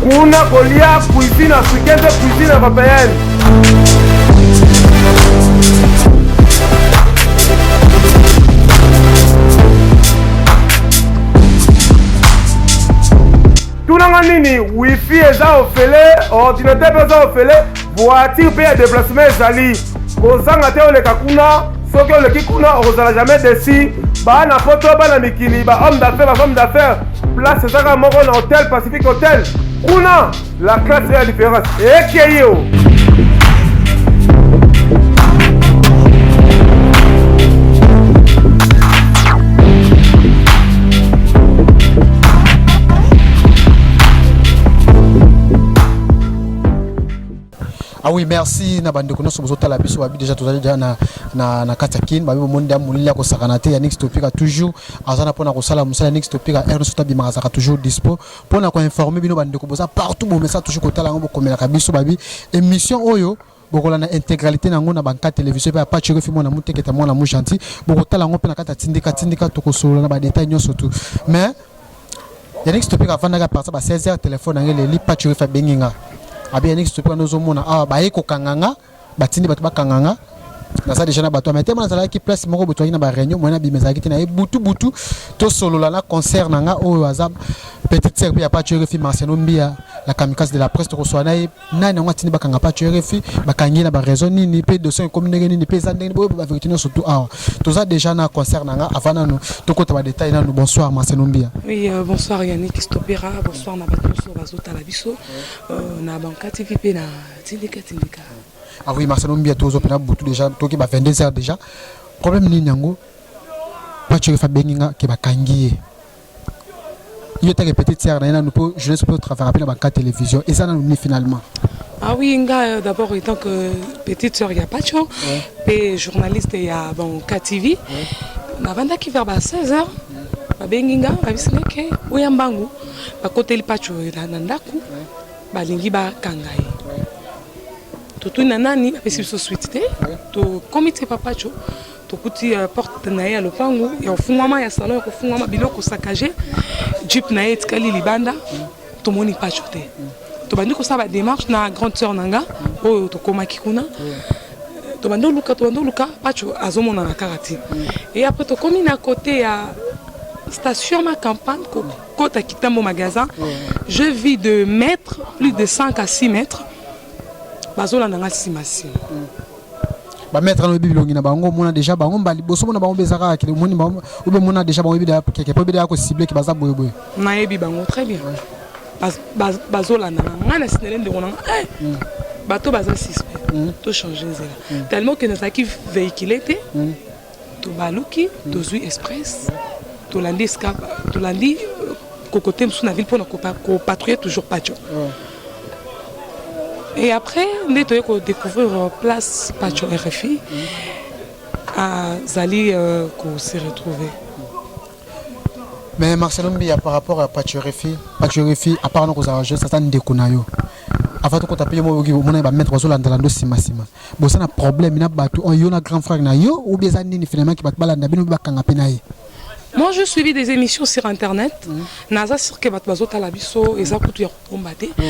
kuna kolia cuisine africaine mpe cuisine européenne tunanga nini wifi eza ofele ordinateur mpe eza ofele voiture mpe ya deplacement ezali kozanga te oleka kuna soki oleki kuna okozala jamais desi bana poto bana mikili ba homme d'affaires ba femme d'affaires place ezaka moko na hotel pacifique hotel kuna la classe ya différence ekeyi o Ah oui, merci na bande kono sobozo tala biso babi déjà tozali déjà na na na kati ya kin babi bomoni da molili ya kosakana te ya Nix Topika toujours azana pona kosala musala Nix Topika RNC tabi makasaka toujours dispo pona ko informer bino bande ko boza partout bon message toujours kotala ngo bokomela kabiso babi émission oyo bokolanda intégralité na yango na banka télévision mpe apache okefi mwana moteketa mwana mo gentil bokotala yango mpe na kati ya tindika tindika tokosolola na badetail nyonso tu mais Yannick Stopeka afandaka partir ba 16h telefone na ngai eleli Pacho Wefa abengi nga abi Yannick Stopeka nde ozomona awa baye kokanga nga batindi bato bakanga nga naza deja na bato ya mitema nazalaki place moko boye tozalaki na bareunion moyen abima ezalaki te na ye butu butu tosolola na concert na nga oyo aza petite sœur mpe ya Pacho Wefa Marciano Mbia la kamikaze de la presse tokosola na ye nani yango atindi bakanga pacho rfi bakangi ye na baraison nini mpe dosion ekomi ndenge nini mpe eza ndenge boyeba baverité nyonso tu awa toza déjà na concert na nga avant nanu tokota badetail nanu bonsoir maselombia oui euh, bonsoir yannick stopera bonsoir na bato nyonso bazotala biso euh, na banka tv mpe na tindika tindika ah oui maselombia tozopena butu déjà toki ba 22 heures déjà problème nini yango pacho rfi abengi nga ke bakangi ye yo take petite sœur na ye nanu mpo jeunesse mpo travaillaka mpe na banka télévision eza nanu nini finalement Ah oui, nga euh, d'abord étant que petite sœur ya Pacho, pe journaliste ya bon KTV, navandaki vers ba 16 heures babengi nga babisi nga ke oya mbangu bakoteli Pacho na na ndako balingi bakanga ye totuni na nani bapesi biso suite te tokomi te pa Pacho tokuti uh, porte na ye ya lopango ya kofungwama ya salon ya kofungwama biloko sakage jupe na ye etikali libanda tomoni pacho te tobandi kosala bademarche na grande sœur na nga oyo tokomaki kuna tobandi oluka tobandi oluka pacho azomonana kaka te e apres tokomi na kote ya station ma campagne kokota kitambo magasin je vis de mètre plus de 5 à 6 mètres bazolanda nga nsima nsima ba maître na bibi longi na bango mona déjà bango mbali boso mona bango beza kaka kile moni bango obe mona déjà bango bibi da keke po bida ko cibler ki baza boye boye na yebi bango très bien bazolanda na ngai na sinele ndeko na ngai eh, mm. bato baza suspect mm. to change nzela mm. tellement ke nazalaki véhicule te Tobaluki, tozui express, tolandi esika, tolandi euh, kokote mosusu na ville mpo na kopatrouiller toujours Pacho. Et après, nde toye kodécouvrir euh, place Pacho RFI azali euh, kose retrouver. Mais Marcelo Mbiya par rapport à Pacho RFI, Pacho RFI apart na kozala jeune, sasa ndeko na yo. Avant tokota mpe yo moko oyoki omona ba maître bazolandala ndo nsima nsima. boza na problème na bato oyo yo na grand frère na yo ou bien eza nini finalement ki bato balanda bino bakanga mpe na ye moi je suivi des émissions sur internet mm. naza sur que bato bazotala biso eza kutu ya kokomba te mm.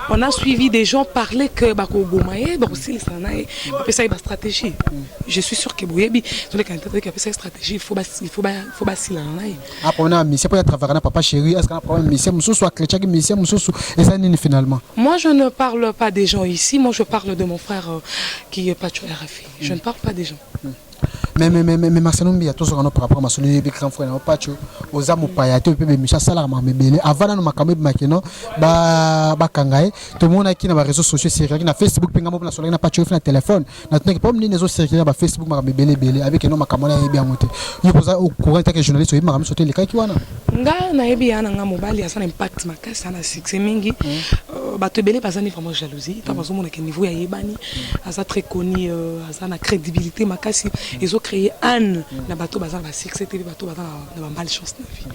on a suivi des gens parler que bakoboma ye bakosilisa na ye bapesa ye bastratégie mm. je suis sur que boyebi tolekana te toyeki apesa ye stratégie il faut basilana na ye apona mise mpo ya travaillaka na papa chéri est ce que na problème mise mosusu akletchaki mise mosusu eza nini finalement moi je ne parle pas des gens ici moi je parle de mon frère euh, qui est pacho rfi je ne parle pas des gens hmm. mais mais mais mais Marcelo Mbiya tozoka no par rapport à masolo yebi grand frère na pacho oza mopaya te mpe bemisha asalaka makambo ebele avant nano makambo ebimaki no bakanga ye tomonaki na bareseau sociaux eserelaki na facebook mpe ngambo mpe nasolaki na pacho efi na telefone na tunaki problème nini ezo circuler na ba Facebook makambo ebele ebele avec non makambo na yebi yango te yo poza au courant ta que journaliste oyebi makambo sote lekaki wana nga na yebi yana nga mobali asa na impact makasi na succès mingi mm. euh, bato ebele baza ni vraiment jalousie tant mm. bazo mona que niveau ya yebani mm. aza très connu euh, aza na crédibilité makasi ezo créer anne na bato baza na ba succès te bato baza na ba mal chance na vie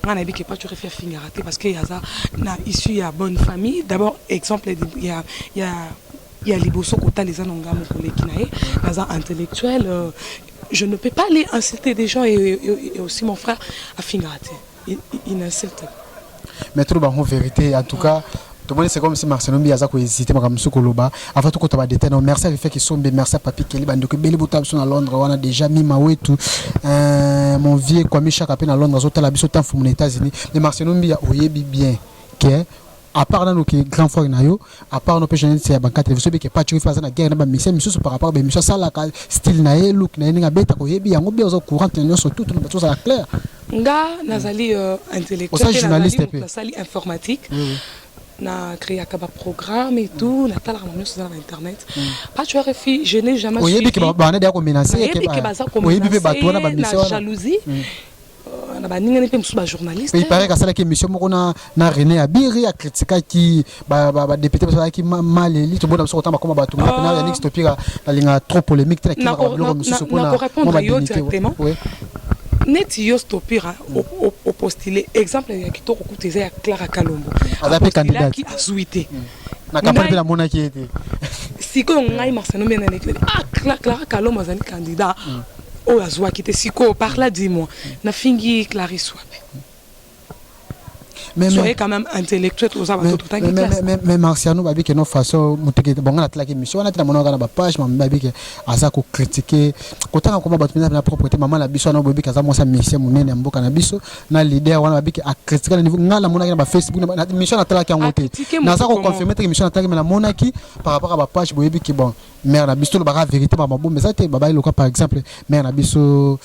nga na yebi ke pacho refi afingaka te parce que aza na issue ya bonne famille d'abord exemple ya ya ya liboso kotala eza na ngambo koleki na ye naza intellectuel euh, je ne peux pas aller insulter des gens et, et, et aussi mon frère afingaka te il, il n'insulte mais toloba yango vérité en tout cas ouais. tomoni c'est comme si marcelo mbi aza kohésite makambo mosusu koloba avant tokota badetail nao merci avife kisombe merci papi keli bandeko ebele botala biso na londres wana déjà mima wetu euh, mon vieux kwami shaka mpe na londres azotala biso temps fumu na états-unis mais marcelo mbi oyebi bien ke à part nanu ke grand frère na yo à part no pe journaliste ya bankate biso beke patch wifi aza na guerre na bamisia misusu par rapport bamisia asalaka style na ye look na ye ndenge abetaka oyebi yango bien oza courante na nyonso tutu na bato ozala claire nga nazali euh, intellectuel pe nazali moto asali informatique mm. na créaka ba programme et tout na talaka nyonso eza na internet patch mm. rfi je n'ai jamais oyebi ke bana deya komenaceoyebi ke baza komenace na jalousie mm. Euh, na baninga mpe mosusu bajournaliste il paraît asalaki émission moko na, na rené abiri akritikaki badepute ba, ba basalaki maleli tobona biso kotanga bakoma bato moko pena ah. yanix topika nalingaka trop polémique te nakimaka babiloko mosusu mpona neti yo stopira opostile exemple ya kitoko kutu eza ya clara kalombo aza mpe kandidati azwi te mm. na kampani mpe namonaki ye te sikoyo ngai marcelo mbe na nekele ah clara kalombo azali candidat mm. oyo azuaki te sikoyo par là dis moi nafingi clarisse wapi mais soyez quand même intellectuel toza bato totangi classe mais marciano babi ke no façon muteke bonga na tlaki mission wana tena monaka na ba page ma babi ke aza ko critiquer kotanga koma bato na propreté maman na biso na bobi kaza mosa mission munene ya mboka na biso na leader wana babi ke a critiquer na niveau ngala monaki na ba facebook na mission na tlaki yango te naza ko confirmer te mission na tlaki mais na monaki par rapport à ba page boyebi ke bon mère na biso lobaka verité ba mabombe eza te babali loka par exemple mère na biso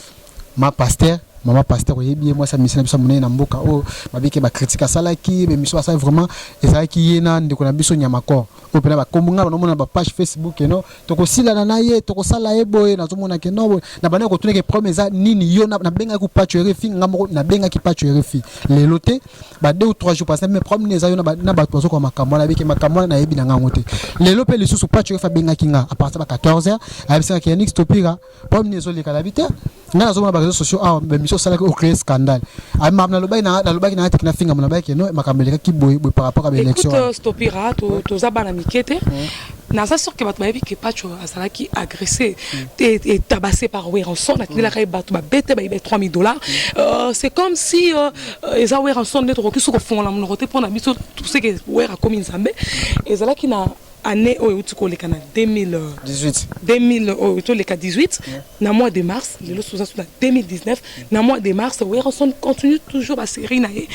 ma pasteur mama pasteur oyebi ye mwasi ya misi na biso monene na mboka oyo babike bakritike asalaki bemiso asali vraiment ezalaki ye na ndeko na biso nyamakor oyo mpena bakombo ngai banamona bapage facebook eno tokosilana na ye tokosala ye boye nazomona ke no na banda kotunaki problème eza nini yo nabengaki pacho erefi ngai moko nabengaki pacho erefi lelo te ba deux ou trois jours passé mais problème neza yo na bato bazokoka makambo wana abiki makambo wana nayebi na ngango te lelo mpe lisusu pacho efa abengaki nga à partir ba 14 heures ayebisaki ya nix topika problème ezoleka na bi te nga nazomona bareseau sociaux awa ah, bamiso osalaki ocree scandale ah, nalobaki nalobaki na yatiki nafinga mo nabaki no makambo elekaki boye boye par rapport ya baélection topira toza bana mike te Naza sur que bato bayebi que Patsho azalaki agresse te et tabasse par Werrason atindelaka ye bato ba bete bayiba 3000 dollars euh, c'est comme si euh, euh, eza Werrason nde tokoki su kofongola monoko te mpo na biso tout ce que Werra akomi nzambe ezalaki na année oyo euti koleka na 2018 2000 oyo toleka 18 na mois de mars lelo soza su na 2019 na mois de mars werrason continue toujours baserie na ye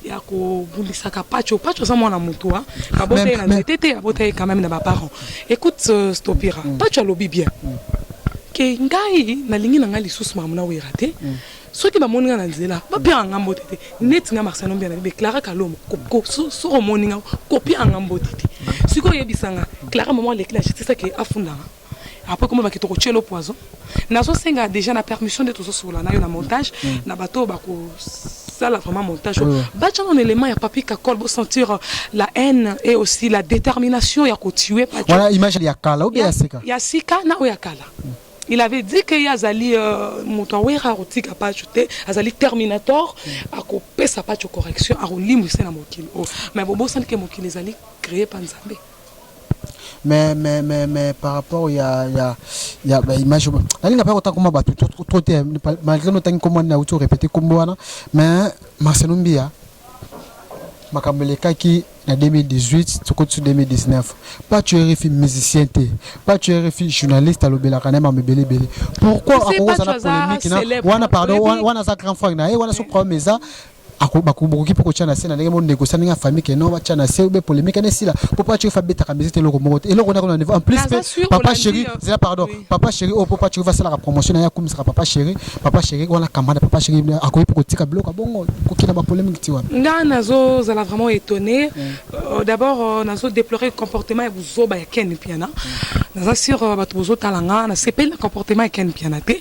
ya kobundisaka pacho pacho aza mwana motu hein. abota ye na nzete te abota ye quand même na baparent écoute euh, stopira mm. pacho alobi bien mm. ke ngai nalingi na ngai lisusu makambo na wera te mm. soki bamoni ngai na nzela bapiaka ngai mbote te neti ngai marcelo mbiana bibe clara kalombo soki omoni ngai kopiaka ngai mbote te sikoyo oyebisa ngai clara mama aleki na justice ake afundanga après comment bakito ko chelo poison nazo senga déjà na permission de tozo sola na yo na montage mm. na bato bako sala vraiment montage mm. bacha un élément ya papi kakol bo sentir euh, la haine et aussi la détermination ya ko tuer pas voilà image ya kala ou bien ya sika ya sika na o ya kala mm. il avait dit que azali euh, moto awera akotika pacho te azali terminator mm. akopesa pacho correction akolimbwisa na mokili oyo oh. mais bobosani ke mokili ezali créé pa nzambe mais mais mais mais par rapport ya ya ya ba image nalinga pe kotanga koma bato trop te malgré no tangi kombo na uti orepete kombo wana mais Marcelo Mbiya makambo elekaki na 2018 tokoti su 2019 pas tu refi musicien te pas tu refi journaliste alobelaka naye mama ebele ebele pourquoi akokozala polemique na wana pardon wana aza grand frère na ye wana so problème eza ako bako bokoki pe kotia na se na ndenge mo négocier ndenge ya famille que non batia na se ou bien polemique ene sila po pa chiofa betaka musique te eloko moko te eloko na kuna niveau en plus pe papa chéri zela pardon papa chéri o po pa chiofa sala ka promotion na ya kumisa ka papa chéri papa chéri wana kamana papa chéri akoki pe kotika biloko bongo ko kina ba polemique ti wapi nga na zo zala vraiment étonné euh, d'abord euh, na zo déplorer comportement ya buzoba ya Ken Mpiana na za sur euh, bato bozo talanga na sepeli na comportement ya Ken Mpiana te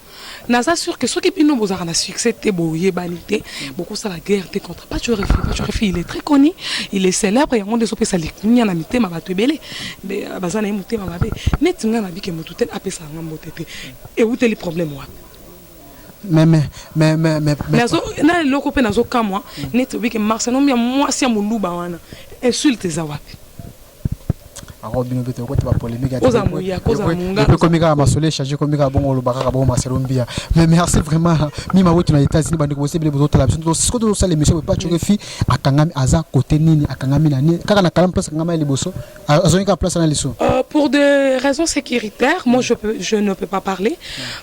Naza sûr que soki bino bozalaka na succès te boyebani te bokosala guerre te contre Pacho Refi. Pacho Refi il est très connu, il est célèbre yango nde ezopesa likunya na mitema bato ebele euh, baza na ye motema mabe neti ngai nabike motu te apesa yanga mbote te ewuteli problème wapi mais mais mais mais mais nazo na eloko pe nazo kamwa neti obike Marcelomia mwasi ya muluba wana insulte eza wapi ako bino bete okota ba polemique oza muya koza munga ko komika masole charge komika bongo lo bakaka bongo masolo mbia mais merci vraiment mi ma wetu na états unis bande ko sebele bozo tala biso siko to sala émission ba choke fi akangami aza côté nini akangami na nini kaka na kala place akangami liboso azongi ka place na liso euh, pour des raisons sécuritaires moi je peux je ne peux pas parler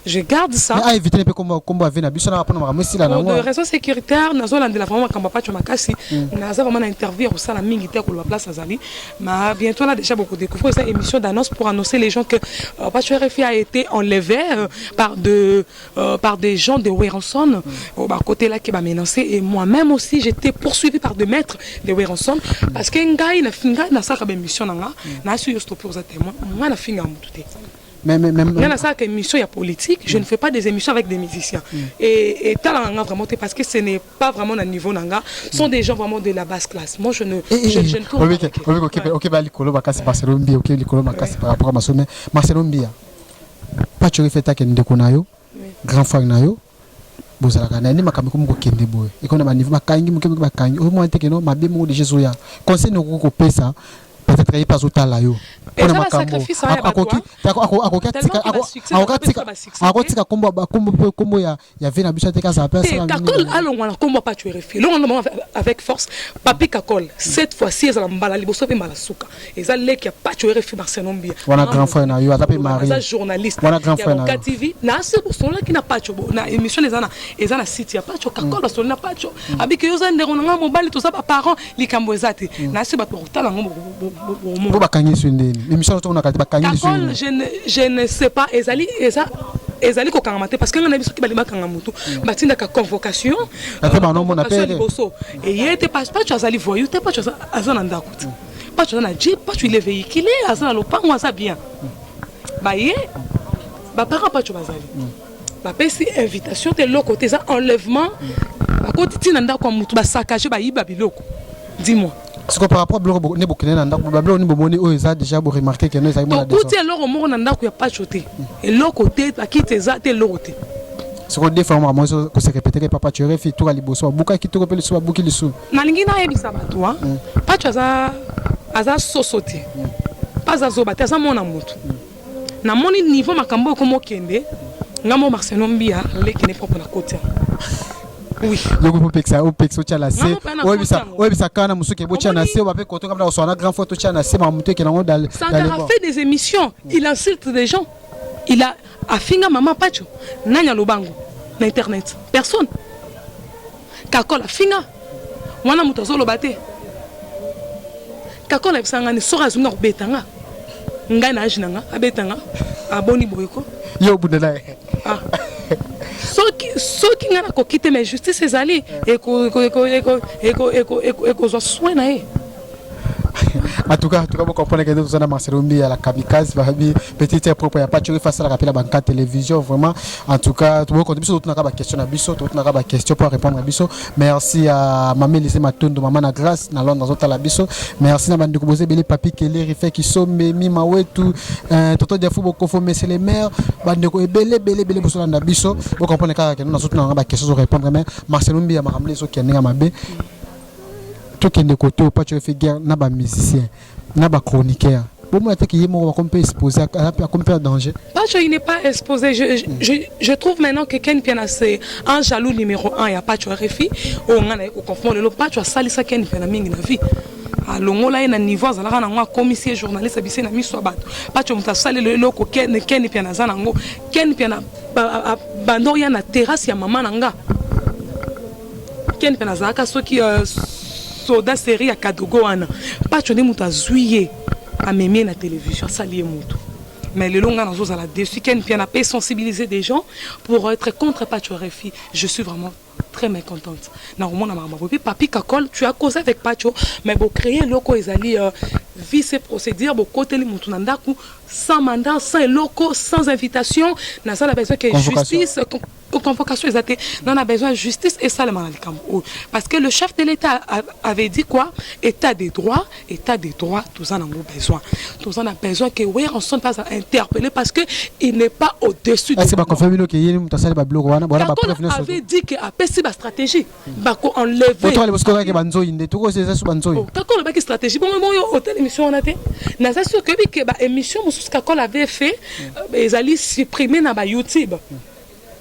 je garde ça mais aevite ne mpe kombo ave na biso na mpona makambo esila nango de raison sécuritaire nazolandela vraiment makambo ya pacho makasi hmm. naza vraiment na interview ya kosala mingi te koloba place azali ma bientôt là déjà bokodécouvrir eza émission d'annonce pour annoncer les gens que euh, pacho rfi a été enlevé euh, par de euh, par des gens de weranson hmm. oh, bakotelaki bamenancé et moi-même aussi j'étais poursuivi par de maîtres de weranson hmm. parce que ngai ngai nasalaka baémission na nga nasi yo stope oza témoin ngai nafinga motu te Mais, mais, mais, nga nasalaka émission ya politique je ne fais pas des émissions avec des musiciens mm. et etalaka nga vraiment te parce que ce n'est pas vraiment na niveau na nga sont des gens vraiment de la basse classe moi je ne eh, eh, je, je ne eh, tourne pas obi kokeba okeba likolo makasi Marcelo Mbia okeba likolo makasi par rapport à Marcelo Mbia Pacho Refeta ke ndeko na yo grand frère na yo bozalaka na nde makambo ekomi kokende boye ekomi na baniveau bakangi moke moke bakangi oyo mwana te keno mabe moko deja ezoya conseil nini okoki kopesa peut-être ye mpe azotala yo mpona makambo akoki akotika kombo ya vie na biso ateke azala mpe asalakakol alongwa na kombo apacuerefi longo na bango avec force papi kakol cette fois ci ezala mbala liboso mpe mbala suka eza leki ya pacho rfi marcelo mbia wana grand frère na yo aza pe marie aza journaliste wana grand frère na yo tv na se bosolaki na pacho bo na émission eza na eza na site ya pacho mm. kakol basoli na pacho mm. abiki yo za ndeko na nga mobali toza ba parents likambo eza te mm. na se ba portala ngo bo bakangi su ndeni émission to na kati bakangi su kakol je ne je ne sais pas ezali eza ezali kokangama te parce que nga na biso ki balingi bakanga motu mm. batindaka convocation liboso eye te pacho azali voyou te pacho aza na ndako pacho aza na je pacho il est véhiculé aza na lopango aza bien baye baparent pacho bazali bapesi invitation te eloko te eza enlèvement bakoti ntina ndako ya motu basakage bayiba biloko dis-moi siko par rapport biloko nde bokende na ndako babiloko nde bomoni oyo eza déjà boremarke keno ezali tokuti eloko moko na ndako ya pacho te eloko te bakiti eza te eloko te soko defa yango makambo nyonso kosekepeteke papa chorefi toka liboso babukaki toko mpe lisusu babuki lisusu nalingi nayebisa bato wa mm. pacho aza aza soso te mm. aza zoba te aza mwana motu mm. namoni niveau makambo oyo komokende nga mo marcelo mbia leki ne propre na koti yango yoko opekisa opekisa otya na se oyebisa oyebisa kaka na mosuki botya na se oba mpe koto kamna koswana grand fois totya na se makambo moto ekela yango dalsankara fait des émissions il insulte des gens il a Afinga maman Pacho nani alobango na internet personne kakol afinga wana moto azoloba te kakol ayebisa nga ni soki azongi akobeta nga ngai na age na nga abeta nga aboni boye ko yo obundela ye ah. soki soki ngai nakoki te mais justice ezali ekozwa soin na ye en tout cas en tout cas bokomprendre kende toza na marcelo mbiya la kamikaze babi petite ya propre ya pacho oyo asalaka mpe na banka télévision vraiment en tout cas bokonde biso totunaka baquestion na biso totunaka baquestion mpo arépondre na biso merci ya mama elise matondo mama na grâce na londre azotala biso merci na bandeko boza ebele papi keleri fe kisombe mima wetu euh, toto diafu bokofo monsieur le maire bandeko ebele ebele ebele bosolanda biso bokomprendre kaka kende nazotunaka baquestion ezorépondre mais marcelo mbiya makambo nde ezokende ndenge ya mabe tokende kote oyo paco efe guerre na ba musicien na ba chroniqueur bomona te kiye moko bakomi mpe expose akomi mpe na danger paco il n'est pas exposé je, je, je, je trouve maintenant que ken mpiana c'est un jaloux numéro 1 ya paco rfi oyo oh, ngai naye koconfondre lelo paco asalisa ken mpiana mingi na vie alongola ah, ye na niveau azalaka nango akomisi ye journaliste abise na miso ya bato paco moto asalelo eloko ken ken mpiana aza nango ken mpiana bandor ya na terrasse ya mama na nga Ken pe nazalaka soki euh, soda serie ya kadogo wana pacho nde moto azwi ye amemi ye na television asali ye moto mais lelo ngai nazozala dessus ken pia na pe sensibiliser des gens pour être contre pacho refi je suis vraiment très mécontente na komona makambo boye mpe papi kakol tu as causé avec pacho mais bocréer eloko oyo ezali euh, vice procédure bokoteli moto na ndako sans mandat sans eloko sans invitation naza na besoin ke justice convocation eza te non a besoin justice esalema na likambo oyo parce que le chef de l'état avait dit quoi état de droit état de droit toza nango besoin toza na besoin que weranson mpe azala interpellé parce que il n'est pas au-dessus avait dit que apesi bastratégie bako enlever oto alebosiko kaka ba nzoyi nde toko eza su ba nzoyi oh, kakolo baki stratégie bongo moyo hôtel émission wana te naza sûr que bi que ba émission mususu kakolo avait fait euh, ezali supprimer na ba YouTube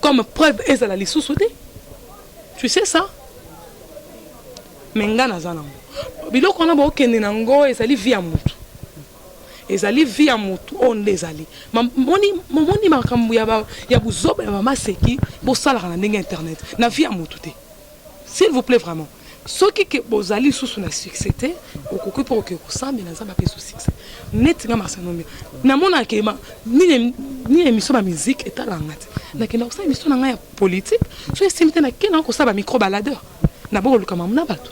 comme preuve ezala lisusu te tu sais ça mais nga naza nango biloko wana bokende nango ezali vie ya mutu Ezali vie ya mutu oyo nde ezali mamoni momoni makambo ya ba ya buzoba ya mama seki bosalaka na ndenge internet na vie ya mutu te s'il vous plaît vraiment soki ke bozali lisusu na succès te okoki mpo oke kosambela nzambe apesa succès neti nga masanomia namonaka ke nini nini émission ba musique etalaka nga te nakenda kosala émission na ngai ya politique soki esimbi te nakenda kosala ba micro baladeur nabokoluka mamu na bato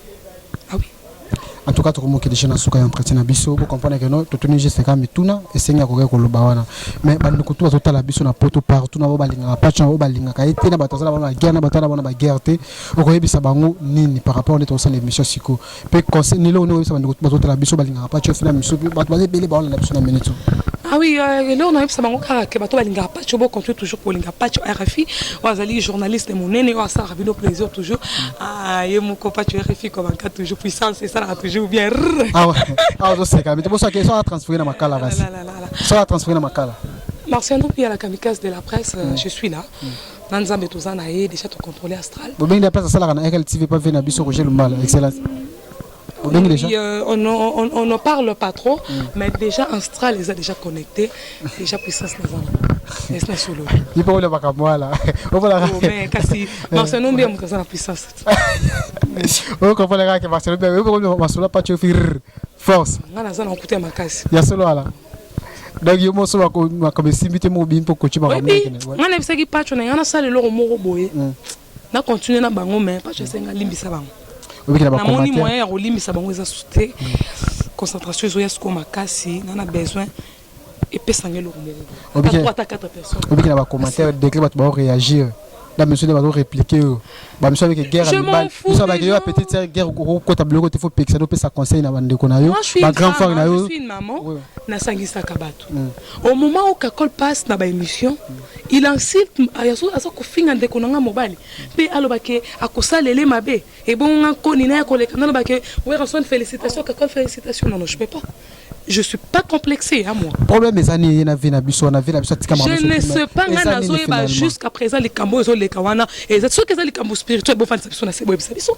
en tout cas tokomoki deja na suka ya entretien na biso bo comprendre que non totuni juste kaka mituna esengi akoki koloba wana mais bandeko tu bazotala biso na poto partout na bao balingaka patch na bao balingaka ye te na bato aza na bana na guerre na bato aza na bana baguerre te okoyebisa bango nini par rapport nde tokosala émission siko mpe conseil nilo oyo okoyebisa bandeko tu bazotala biso balingaka patch ofina miso bato baza ebele baolanda biso na minute ah oui euh, eloko nayebisa bango kaka ke bato balingaka Pacho bo continue toujours kolinga Pacho RFI oyo azali journaliste monene oyo asalaka bino plaisir toujours ah, ye moko Pacho RFI kobaka toujours puissance esalaka toujours bien awa awa ozoseka mite bosaki so atransfere na makala ah, basi so atransfere na makala Marciano Pia la kamikaze de la presse euh, mm. je suis là mm. na nzambe toza na ye déjà tocontrôle astral bobengi de la presse asalaka na RLTV pa ve na biso Roger Lumbala excellence Obengi déjà euh, on, on, on ne parle pas trop mm. mais déjà Astral les a déjà connecté déjà puissance les a esi na solo ipo olobaka mwala okolaka kasi marcelo mbia moto aza na puissance okokolaka ke marcelo mbia okokomi masolo apacho fir force nga naza na kokuta ya makasi ya solo ala donc yo moso makambo esimbi te mobimi mpo koci makambo nga nayebisaki pacho na nga nasala eloko moko boye mm. na continuer na bango mais pas je senga limbisa bango na moni moyen ya kolimbisa bango eza sute concentration ezoya sikoyo makasi na na besoin epesa ngai eloko moko ata 4 personnes obiki na ba commentaire degré bato bao réagir na miso nde bazo réplique oyo bamiso abeke guerre ya mibali miso abake yo apetite ya guerre okokota biloko te fo pekisa nde opesa conseil na bandeko na yo bagrand frère na yo nasangisaka bato Au moment où Kakol passe na ba emission, il insulte azo aza kofinga ndeko na nga mobali mpe aloba ke akosalele mabe ebongo nga nkoni na ya koleka na loba ke Werrason félicitations Kakol félicitations non non je peux pas je suis pas complexé hein moi problème eza ni ye na vie na biso na vie na biso atika je ne sais pas nga nazoyeba jusqu'à présent likambo ezo leka wana eza soki eza likambo spirituel bofandisa biso na se boyebisa biso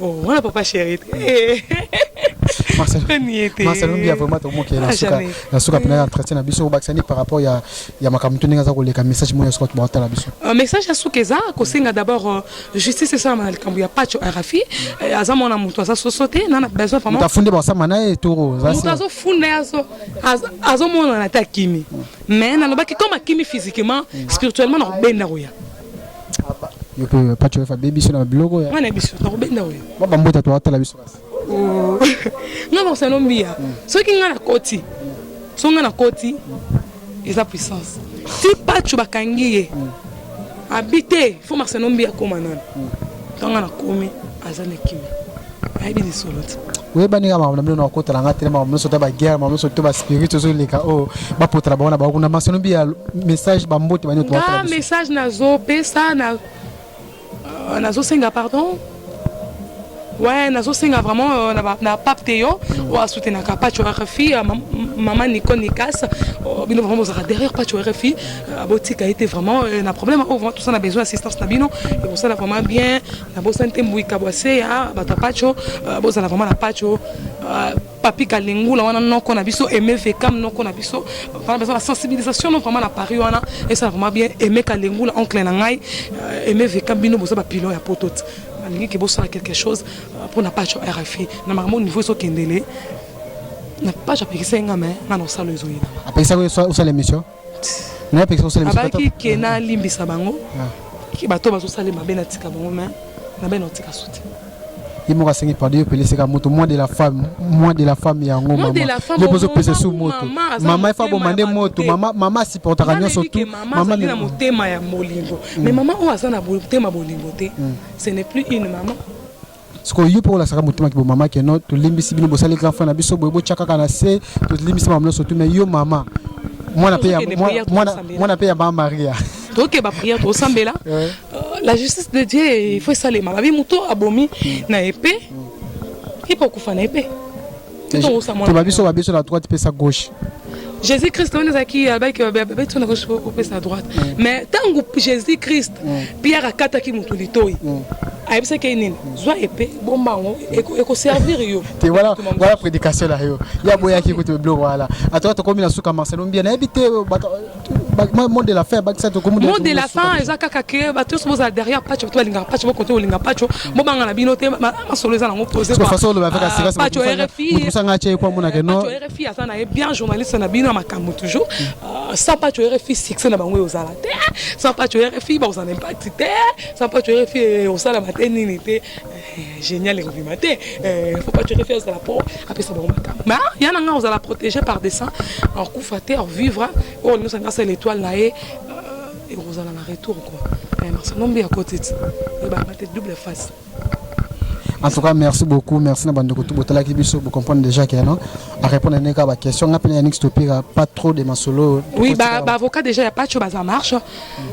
Oh, wana papa chéri. Eh. Marcel Marcel Mbia vraiment to moke na ah, suka na suka pena entretien na biso obakisa ni par rapport ya ya makambo ndenge aza koleka message moya suka ba tala biso. Un euh, message ya suka eza ko senga d'abord euh, justice esa na likambo ya Pacho Arafi euh, aza mwana mutu aza so sauter na na besoin vraiment. Tafunde ba sama na e toro. Mutu azo funda azo azo mona na ta kimi. Mais na lobaki comme akimi physiquement spirituellement na benda roya. soki nga na koti so nga na koti eza puissance ti pacho bakangi ye abi te fo marcelombi akoma nani Tanga na komi aza na kimi. Ayebi ni solo ti. oyebani kaka makambo na bino na kokotala nga te na makambo nyonso ta baguerre makambo nyonso to baspirit ozoleka oyo oh, bapotala bango na bango kuna masolo mbi ya message bambote bani nga message nazopesa na euh, nazosenga pardon ouais nazosenga vraiment euh, na pape te yo oyo asutenaka pacho rfi mama nico nikas bino vraiment bozalaka derrière pacho rfi Ah, botika ye te vraiment euh, na problème oyo oh, vraiment tosala besoin assistance na bino ekosala vraiment bien nabosani te mbuika bwaseya ah, bato ya pacho euh, bozala vraiment na pacho euh, papi kalingula wana noko na biso aime vekam noko na biso wana besoin na sensibilisation no vraiment na paris wana esala vraiment bien aime kalingula oncle na ngai aime vekam bino boza bapilon ya poto te nalingi ke bosala quelque chose mpo na pacho rfi na makambo niveau ezokendele na pacho apekisaki nga me nga na osala ezoyinama apekisaki osala émission abaki ke nalimbisa bango ah. ke bato bazosala mabe natika bango mai nabai naotika soutien ye moko asengi pardon yopeleseka moto moi de la femme moi de la femme yango mamayo bozopesa su moto mama efa boma nde moto mama asupportaka nyonso tu na motema ya bolingo mais mama oyo aza na motema bolingo te ce n'est plus une maman sikoyo yo mpe olasaka motema kibo mama keno tolimbisi bino bosali grand frère na biso boye botya kaka na se tolimbisi makambo nyonso tu mais yo mama mwana mpe ya- Tozokende mwana- prière, mwana- tokosambela. mwana mpe ya mama maria toke baprière tosambela Euh, la justice de dieu il faut esalema babi moto abomi na epe ipo okufa na epe to babiso babiso na droite pesa gauche jésus christ wana ezalaki abaki babeti na gauche opesa na droite mais ntango jésus christ pierre akataki motu litoi ayebisaki ye nini zwa epe bomba yango ekoservir yo te wana prédication na yo ye aboyaki kutu biloko wana atoka tokomi na suka marcelo mbia nayebi te mot de la fin bakisa tokomi mot de la fin eza kaka ke bato nyonso bozala derrière pacho bato balingaka pacho bokonte kolinga pacho bobanga na bino te masolo eza nango posepacho rfi aza na ye bien journaliste na bino ya makambo toujours euh, sans pacho rfi succès na bango eozala te sans pacho rfi bakozala na impact te sans pacho rfi eosalama te nini te Eh, génial ekobima te eh, faut pas turefi azala po apesa bango makambo ma ya na ngai ozala protégé par des saint akufa te vivre oyo nyonso anga asala étoile na ye euh, ekozala na retour quoi eh, marsanombi ya kotiti ebanga te double face en tout cas merci beaucoup merci na bandeko tout botalaki biso bo comprendre déjà que non à répondre à neka ba question nga pena yannick stopira pas trop de masolo oui ba, ba avocat déjà ya pacho baza marche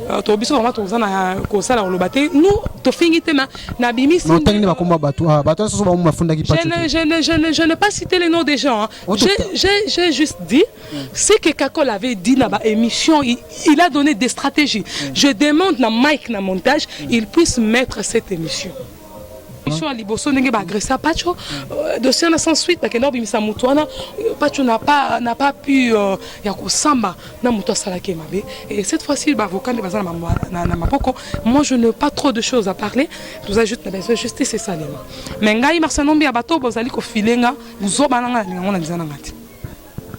Euh, to biso vraiment toza na kosala koloba te nu tofingi te na bimisi ntangi nde bakoma bato ah, bato nyonso bango bafundaki je ne pas citer les noms des gens oh, j'ai juste dit ce que kakol avait dit na baémission il, il a donné des stratégies je demande na mike na montage il puisse mettre cette émission mission ya liboso ndenge baagressa pacho euh, dossier na sans suite bakenda kobimisa moto wana euh, pacho na pas na pas pu euh, ya kosamba na moto asalaki ye mabe et cette fois ci baavocat nde baza na maboko moi je ne pas trop de choses à parler toza juste na besoin justice esalema mais ngai marsa nombi ya bato bozali kofile nga buzoba na ngai na lingango na liza na ngai te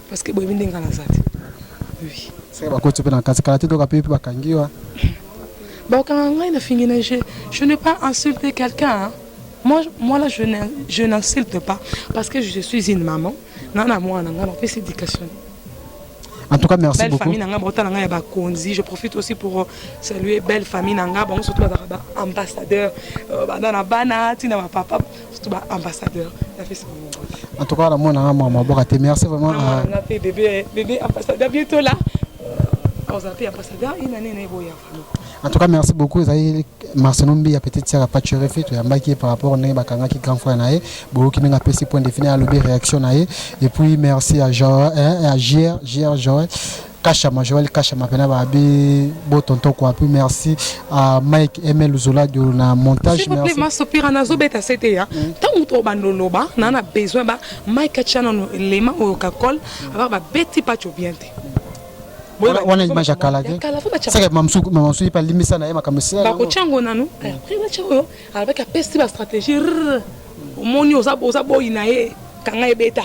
Parce que boyebi ndenge naza te. Oui. Sasa bakoti mpe na kati kala te toka mpe bakangi wa. Bakanga ngai na fingi na je je n'ai pas insulté quelqu'un. Hein? Moi, moi là, je n'insulte pas parce que je suis une maman. Nana moi, nana, on fait éducation. En tout cas, merci belle beaucoup. Famille nanga, bota nanga ya ba konzi. Je profite aussi pour euh, saluer belle famille nanga, bon surtout ba ambassadeur, euh, ba nana bana, tina ba papa. surtout ba ambassadeur na fesi bongo en tout cas la mona nga mwa maboka te merci vraiment ah, nga pe bébé bébé ambassadeur bientôt là oza pe ambassadeur ina nene eboya vraiment en tout cas merci beaucoup ezali marcelo mbi ya petite sœur ya pacherefe toyambaki ye par rapport ndenge bakangaki grand frère na ye boyoki ndenge apesi point defini alobi réaction na ye et puis merci à jr jr joel Kashama, Joël Kashama, Pena Babi, Beau Tonton Kwapu, merci à Mike Emel Zola de la montage. S'il vous plaît, ma sopira na zo beta c'était ya. Mm. Tangu to bando loba, na na besoin ba Mike Chana no lema o kakol, aba ba beti pa chobiente. wana image ya kala te seke mamasuki mpe alimbisa na ye makambo esilabakotya yango nanu après batya oyo alobaki apesi bastratégie omoni oza boyi na ye kanga ebeta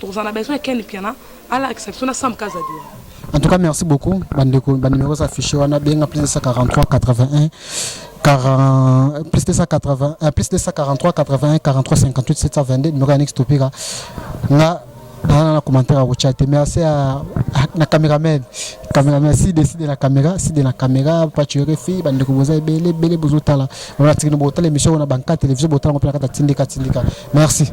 tokozala na besoin ya ken mpiana alakisa biso na sam kazadi en tout cas merci beaucoup bandeko banimero eza affiche wana benga plus 943 81 40, plus 280, euh, plus 243 81 43 58 722 numéro ya Nix Topira nga na na commentaire akotya te merci ya na cameraman cameraman side side na camera side na camera pacho refi bandeko boza ebele ebele bozotala wana tikino botala émission wana banka télévision botala ngo mpe na kati ya tindika tindika merci